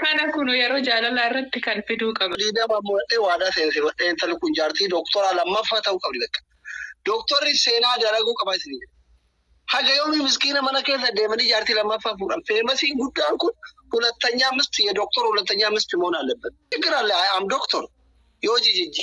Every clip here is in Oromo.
Kana kunu yeroo jaalalaa irratti kan fiduu qaba. Liidama mo'adhee waadaa seensi godhee intalli kun jaartii dooktoraa lammaffaa ta'uu qabdi bakka. Dooktorri seenaa dalaguu qaba isin. Haga yoomii miskiina mana keessa deemanii jaartii lammaffaa fuudhan. Feemasiin guddaan kun hulattanyaa misti ye dooktor hulattanyaa misti moon aallabban. Tigir alle am dooktor yoo jijijji.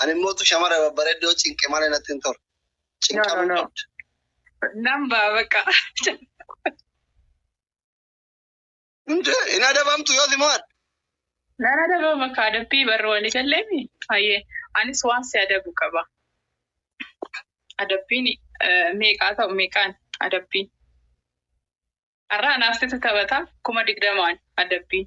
Ani immoo tu shamara babbareeddoo cinqe malee natti hin tolu. Cinqamuu no. qabda. Nan ba'a bakka. Hundee hin adabamtu yoo si mo'adhe. Nan adaba bakka adabbii barru walii galleemi. Hayyee anis waan si adabu qaba. Adabbiin eh, meeqaa ta'u meeqaan adabbiin. Har'a anaaf situ taphata kuma digdamaan adabbiin.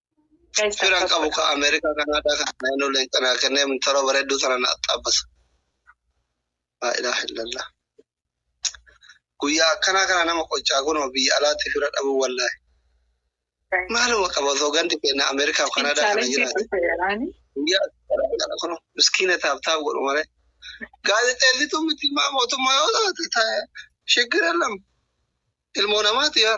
Firan qabu ka Ameerikaa Kanaadaa kan naannoo leencanaa kennee mintara bareedduu sana na axxaabbasa. Laa ilaaha illallah. Guyyaa akkanaa kana nama qoccaa kunoo biyya alaatti fira dhabuu wallaahi. Maaluma qaba osoo gandi keenya Ameerikaa fi Kanaadaa kana jiraate. Guyyaa akkanaa kana kunoo miskiina taabtaab godhu malee. Gaazexeessituu miti maa mootummaa yoo taate ta'e shiggir ellam ilmoo namaati yaa.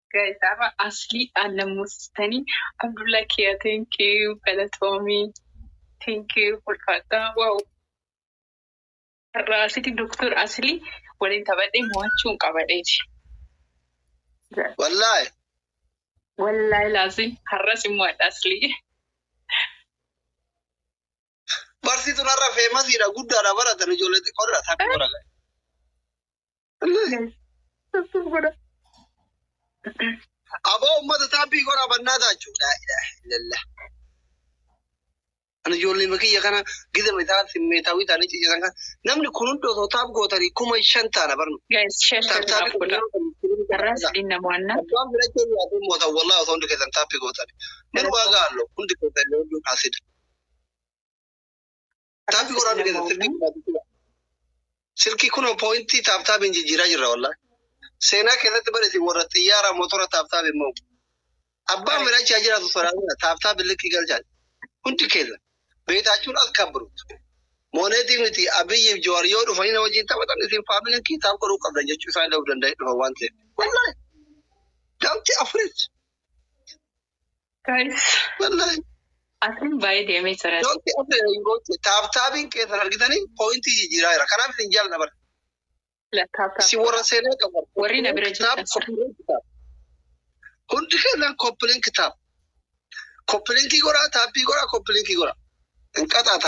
Guys arra asli an nammusistani abdulla kiya thank you galatomi thank you ulfadha wow arra asiti doktor asli walin tabadhe mo'achuun qabadeti Wallahi. wallahi lazim harra simmo adha asli Barsiituun har'a feemasiidha guddaadha baratan ijoollee xiqqoodha takka godha. Aboo uummata taabbii goraa bannaa taachuu. Laa ilaaha illallah. Ani ijoollee makiyya kana gida metaa simmeetaawii taanii cicisan kana namni kun hundi osoo taab gootanii kuma shan taana barnu. Guys, share share Taabtaa naaf godha. Har'aas dhimma mo'annaa. Abbaan filachuu hin yaaduu mootan wallaa osoo hundi keessan taabbii gootan. Manuma gaallo hundi keessan yoo duun haasida. Taappi godhaa nu keessa silkii godhaa. Silkii kunoo pooyintii taaptaabiin jijjiiraa jirra wallaan. Seenaa keessatti barreessi warra xiyyaara motora taaptaabi immoo. Abbaan fedha achi haa jiraatu sodaatudha taaptaabi likkii galchaan. Hundi keessa beetaachuun as kabbiruutu. Mooneetii miti abiyyiif joowar yoo dhufanii na wajjin taphatan isin faamiliin kiitaab godhuu qabda jechuu isaan illee of danda'ee dhufa waan ta'eef. Wallaan. Gaamti afuris. Guys, Wallahi. asin baay'ee deemee jira. Yookiin akka hin goote taaptaabiin keessan argitanii poointii jijjiiraa jira. Kanaaf isin jaalladha bara. Lakkaabtaa. Si warra seenaa qabu. Warri na bira Kitaab jirtan. koppileen kitaab. Hundi keenyaan koppileen kitaab. Koppilenkii godhaa, taappii godhaa, koppilenkii godhaa. Hin qaxaata.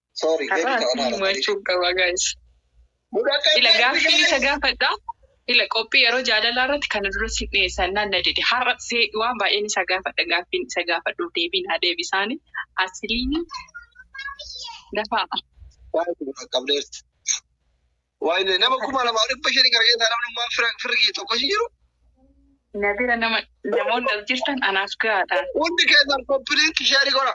Sorry, Har'a deebii ta'uu asii maala tarii. himachuu qaba guys. Mudhaqqee Ila baay'ee gaaffii biyya isa kana. gaafadha. Ila qophii yeroo jaalalaa irratti kana dura si dhiyeessan naan na dide. Har'a see waan baay'een isa gaafadha. Gaaffiin isa gaafadhuuf deebii naa deebisaani. Asiliin dafaa. Baay'ee si dhaqqabdeerti. Waayne nama kuma lamaa dhibba shanii gara keessaa namni waan fira firri kiyya tokko hin jiru. Na bira nama namoonni as jirtan anaaf gahaadha. Hundi keessan koppiliin kisheerii godha.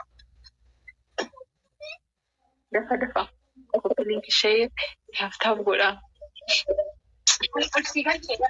Dafa dafa. Koppiliin kishee taaf taaf godha. Aksii kan jedha.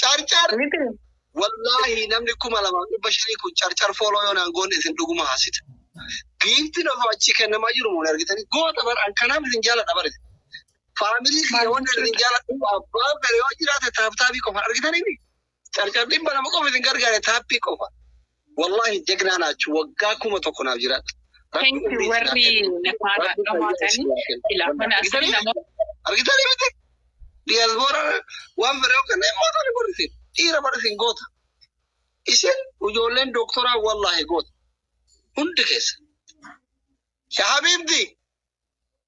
Carcar wallaahi namni kuma lamaaf dhibba shanii kun carcar fooloo yoo naan goonne isin dhuguma haasita. Giiftiin osoo achi kennamaa jiru muun argitanii goota bar akkanaaf isin jaaladha bar. Faamilii kiyya wanni isin jaaladhu abbaa fere yoo jiraate taaptaabii qofa argitanii carcar dhibba lama qofa isin gargaare taappii qofa. Wallahi jagnaa naachu waggaa kuma tokko naaf jiraadha. Rabbi Thank you umrii warri isin haa kennu. nafaana Rabbi fayyaa dhamaatanii isin haa kennu. ilaa mana asii Argitanii? nama Argitanii miti? Diyaasboora waan fedhe yookaan immoo tani godhu isin. Dhiira bara isin goota. Isin ijoolleen dooktoraa wallaahi goota. Hundi keessa. Yaa Habiibti!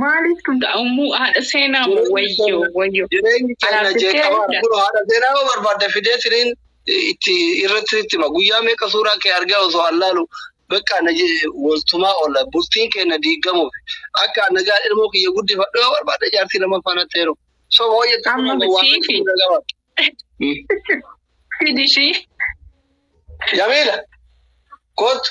Maaliif kun da'umuu haadha seenaa moo wayyoo wayyoo. Jireenyi keenya Araarsittee jeeqamaa dha. Kun haadha seenaa yoo barbaadde fidee siniin itti irratti sitti hima. Guyyaa meeqa suuraa kee argaa osoo allaalu bakka na je- waltumaa oolla. Bultiin keenya diigamuuf akka nagaa ilmoo kiyya guddifadhu yoo barbaadde jaartii lammaffaa natti heeru. So hooyyatti Amma kun waan siifi. natti gaba. Fidishii. Jamiila kootu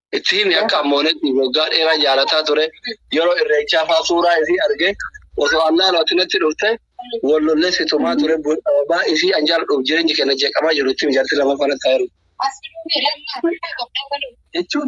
itti himi akka ammoonetti waggaa dheeraa jaalataa ture yeroo irreechaa faa suuraa isii arge osoo allaa looti natti dhufte wal lollee situmaa ture baa isii an jaaladhuuf jireenyi kenna jeeqamaa jiru itti mijaarti lama fana taayiru. Jechuun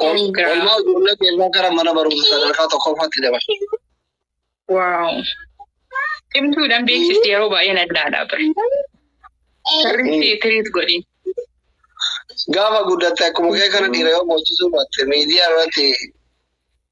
Congrats. Olmaa ijoollee keenya gara mana barumsa sadarkaa tokkoffaatti dabarsa. Wow. Cimtuudhaan beeksisti yeroo baay'ee nadhaadha bira. Sirriitti tiriit godhi. Gaafa guddatte akkuma kee kana dhiira yoo boochisuu baatte miidiyaa irratti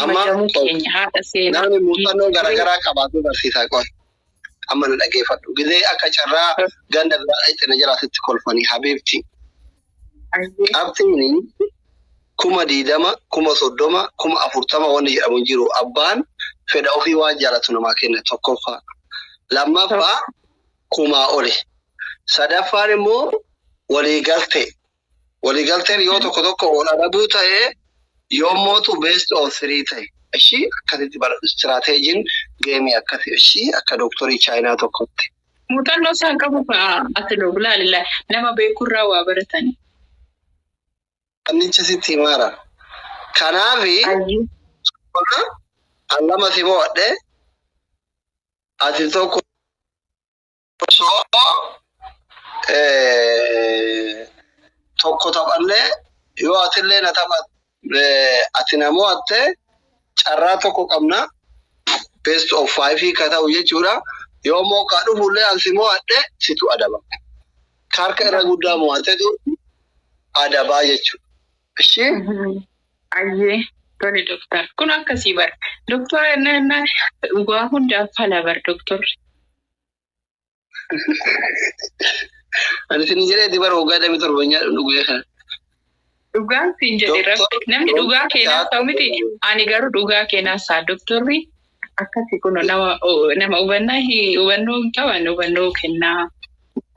Amma jamuu keenya haadha seenaa. Namni muuxannoo garaagaraa qabaatee barsiisaa qoon. Amma na dhageeffadhu. Gizee akka carraa ganda biraa dhaqxe na jalaa sitti kolfanii habiibti. Qabxiin kuma diidama, kuma soddoma, kuma afurtama wanni jedhamu hin jiru. Abbaan fedha ofii waan jaalatu namaa kenna tokkoffaa. Lammaffaa kumaa oli. Sadaffaan immoo walii galtee. Waliigalteen yoo tokko tokko ol adabuu ta'ee yoo mootu based on three ta'e. Ishii akkasitti bara istiraateejiin deemee akkasi ishii akka dooktorii chaayinaa tokkotti. Muuxannoo isaan qabu fa'a ati loogu laalila nama beeku irraa waa baratani. Annicha sitti himaara. Kanaafi Ayyuu. an lama si mo'adhe ati tokko osoo tokko taphannee yoo atillee na taphatte ati na mo'atte carraa tokko qabna best of five ka ta'u jechuudha. Yoo immoo ka dhufullee an si mo'adhe situ adaba. Ka harka irra guddaa mo'atetu adabaa jechuudha. Ishii Ayyee tole doktar kun akkasii bar doktora innaa innaa waa hundaaf fala bar doktorri. Ani isin jedhee dibar waggaa damee torba nyaadhu nu guyyaa kana. Dhugaan siin jedhe Doktor- rabbi namni doktor- dhugaa keenaa ta'u miti ani garuu dhugaa keenaa isaa doktorri akkasi kun nama o- nama hubannaa hi- hubannoo hin qaban hubannoo kennaa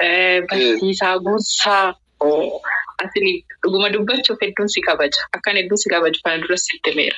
eh, barsiisaa gorsaa oo, asini dhuguma dubbachuuf hedduun si kabaja akkan hedduun si kabaju kana dura sitti meera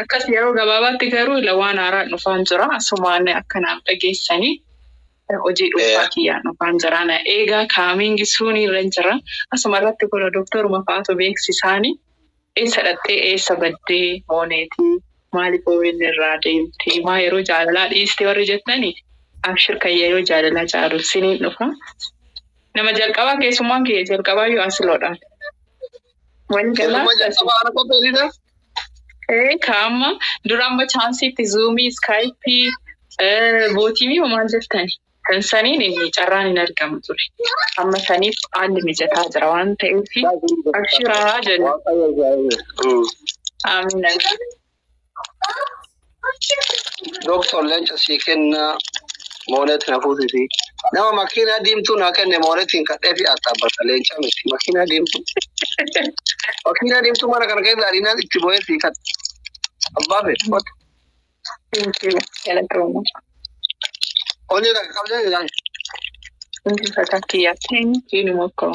Akkas yeroo gabaabaatti garuu ila waan haaraan dhufaan jira. Asumaan akka naaf dhageessanii hojii dhuunfaa kiyyaan dhufaan jira. Na eegaa kaamiingi suunii irra jira. Asuma irratti kun doktoruma fa'aatu beeksisaani. Eessa dhaqxee eessa baddee mooneetii maaliif OBN irraa deemtee maa yeroo jaalalaa dhiiste warri jettani abshir kan yeroo jaalalaa caalu siniin dhufa. Nama jalqabaa keessummaan kiyya jalqabaa yoo asiloodhaan. Keessummaa jalqabaa ana qopheessite. Ee kaama dura amma chaansiitti zuumii iskaayipii bootiimii homaan jettani kan saniin inni carraan hin argamu ture amma saniif haalli mijataa jira waan ta'eef abshiraa jenna amina Doktor leenca sii kennaa moonet na fuusisi. Nama makiinaa diimtuu naa kenne moonetiin kadhee fi axxaabbata leenca miti. Makiinaa diimtuu. Makiinaa diimtuu mana kana keessa ariinaan itti bo'ee sii kadhe. Abbaa fedhe qote. Galatooma. Onnee takka qabdee ilaalu. Hundi fataa kiyyaa. Diinuma akkoo.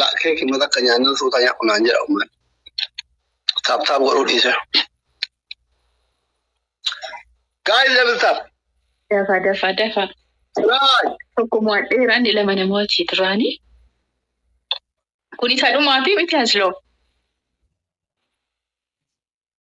Laa keeki mata akka nyaannan suuta nyaadhu naan jedha umman. Taap taap godhuu dhiise. Guys double tap. Dafa dafa dafa. Try. Tokko mo'adheera inni lama na mo'atii duraanii. Kun isa dhumaati miti hasloo.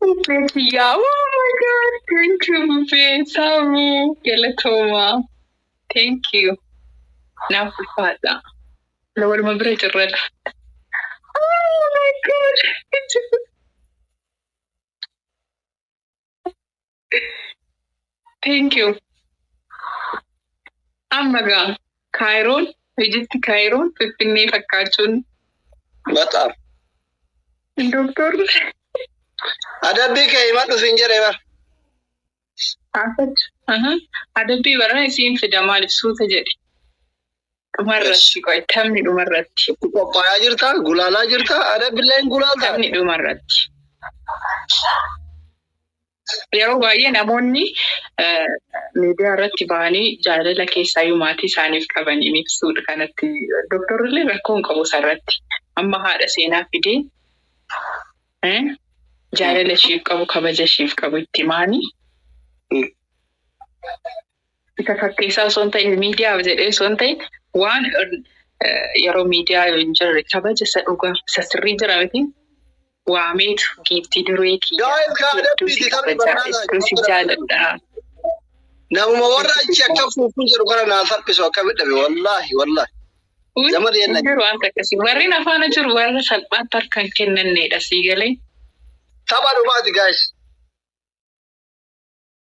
Bubbee kiyyaa. Oh my god. Thank you bubbee. Saamuu. Galatooma. Thank you. Naaf ulfaadha. Waluma bira jirradha. Oh my god. Thank you. Amma gaa Kaayiroon, Ijipti Kaayiroon Finfinnee fakkaachuun Bataam. doktor Adabbii kee himadhu siin jedhe bar. Aha. adabbii barana isiin fida maaliif suuta jedhe. Dhumarratti qoy taphni dhumarratti. Itti qophaa'aa jirta, gulaalaa jirta, ada billaa hin gulaalta. Taphni dhumarratti. Yeroo baay'ee namoonni eh, miidiyaa irratti bahanii jaalala keessaayyuu maatii isaaniif qaban hin ibsuudha kanatti. Dooktorri illee rakkoo hin qabu isarratti. Amma haadha seenaa fidee eh, jaalala ishiif qabu kabaja ishiif qabu itti maanii Mm. Isa fakkeessaa osoo hin ta'in miidiyaaf jedhee osoo hin ta'in waan yeroo miidiyaa yoo hin jirre kabaja isa dhugaa isa sirrii jira miti waameetu giiftii duree kiyyaa hedduu si kabajaa hedduu si jaaladha. Namuma warra achi akka fuufuu jedhu kana naa salphisu akka midhabe wallaahi wallaahi. Jama deemna. Jiru waan takkasi warreen afaana jiru warra salphaatti harka hin kennanneedha sii galee. Tapha dhumaati gaayis.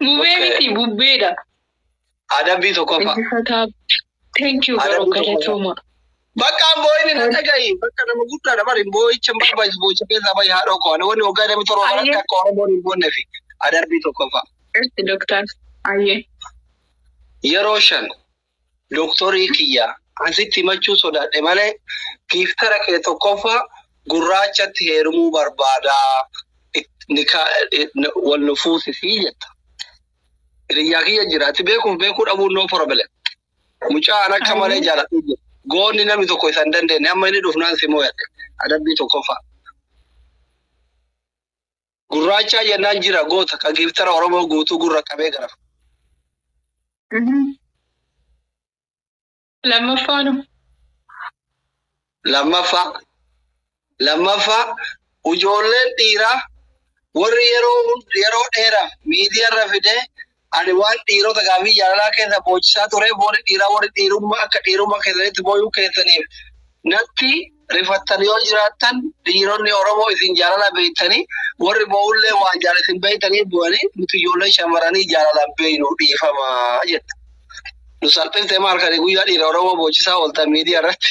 Mubee Okay. miti bubbeedha. Adabbii tokkoffaa. Injifataa. Thank you Adabbii garuu tokkoffaa. galatooma. Bakka an boo'ini na dhagahi. Bakka nama guddaadha bari boo'icha hin barbaachisu boo'icha keessaa bahi haadha koo. Ani wanni waggaa damee torba kanatti Ayyee. akka Oromoon hin boonne fi adabbii tokkoffaa. Irti doktar. Ayyee. Yeroo shan Doktorii kiyya, an sitti himachuu sodaadhe malee giiftara kee tokkoffaa gurraachatti heerumuu barbaada, nikaa wal nu fuusisi jetta. Hiriyyaa kiyya jira, ati beekuuf beekuu dhabuun no problem. Mucaa an akka malee jaaladhu jira. Goonni namni tokko isa hin dandeenye, amma inni dhufnaan si mooyadhe. Adabbii tokkoffaa. Gurraachaa jennaan jira goota ka giiftara Oromoo guutuu gurra qabee gara. Lammaffaanu. Lammaffaa. Lammaffaa ijoolleen dhiiraa warri yeroo yeroo dheeraaf miidiyaarra fidee Ani waan dhiirota gaafii jaalalaa keessa boochisaa tureef warri dhiiraa warri dhiirummaa akka dhiirummaa keessanitti booyuu keessaniif natti rifattan yoo jiraattan dhiironni Oromoo isin jaalala beektanii warri boo'ullee waan jaala isin beektanii bu'anii nuti ijoollee shamaranii jaalala beeynu dhiifama jette. Nu salphifte maal kani guyyaa dhiira Oromoo boochisaa ooltan miidiyaa irratti.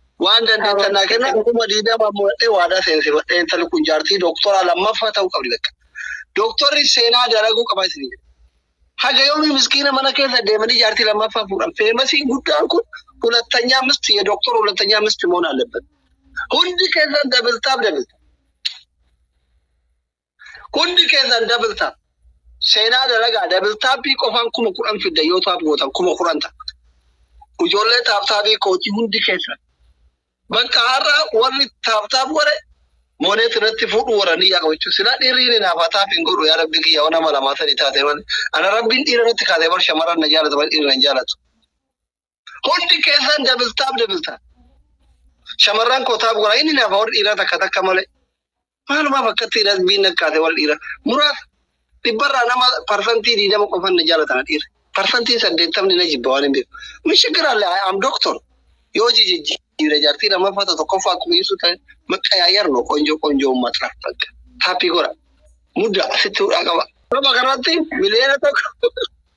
Waan dandeettan naa kenna kuma diidama muradhee waadaa seensifadhee intalli kun jaartii dooktoraa lammaffaa ta'uu qabdi bakka. Dooktorri seenaa dalaguu qaba isin. Haga yoomii miskiina mana keessa deemanii jaartii lammaffaa fuudhan. Feemasiin guddaan kun hulattanyaa misti ya dooktor hulattanyaa misti moon alebbat. Hundi keessan dabiltaaf dabilta. Hundi keessan double tap. Seenaa dalagaa double tapii qofaan kuma kudhan fidda yoo taap gootan kuma kudhan ta'a. Ijoollee taap taapii kootii hundi keessan. Bakka har'a warri taap taap godhe mooneet irratti fuudhu warra niyyaa qabu jechuudha. Silaa dhiirri inni naaf haa taap hin godhu yaa rabbi kiyya waan nama lamaa sadii taate malee. Ana rabbiin dhiira irratti kaatee bar shamarran na jaalatu malee dhiirri na hin jaalatu. Hundi keessan double tap double tap. Shamarran koo taap godhaa inni naaf warri dhiiraa takka takka malee. Maalumaaf akkatti dhiiras biin nakkaate warri dhiiraa. Muraasa dhibbarraa nama parsantii diidama qofan na jaalatan dhiirri. Parsantiin saddeettamni na jibba waan hin beeku. Mishigiraalle am doktor. Yoo jijijjiire jaartii lammaffaa ta'e tokkoffaa akkuma ibsu ta'e maqqa yaayar no qonjoo qonjoo uummata laaf takka. Taappii godha. Mudda asitti hudhaa qaba. Nama kanatti miliyoona tokko.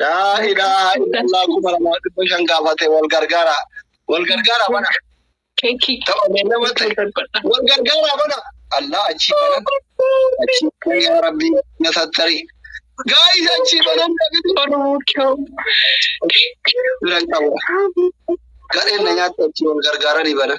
Laa ilaaha illallah kuma lama dhibba shan gaafate wal gargaara. Wal gargaara bana. Keekii. Tapha beellama ta'e. Wal gargaara bana. Allah achii banan. Achii banan yaa Rabbii na sattari. Gaayis achii banan dhabitu. Oromoo kiyoo. Bira qaba. Gadheen na nyaatte achii wal gargaaranii banan.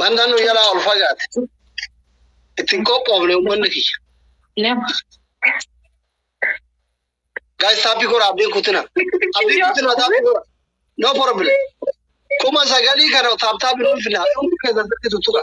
Wanta nu jalaa ol fagaate. Ittiin qophoofne uummanni kiyya. Gaayis taappi kora abdiin kutina. Abdiin kutina taappi kora. No problem. Kuma sagalii kana taap taappi nuuf finna. Hundi keessan sirriitu tuqa.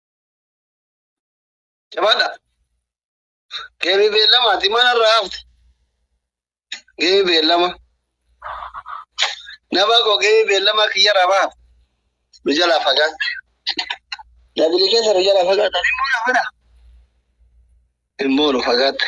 Jabaadha. Geemi beellamaati manarraa hafte. Geemi beellama. Nama koo geemi beellama kiyyarraa baha. Nu jalaa fagaatte. Dabili keessa nu jalaa fagaatte. Immoo na fedha. Immoo nu fagaatte.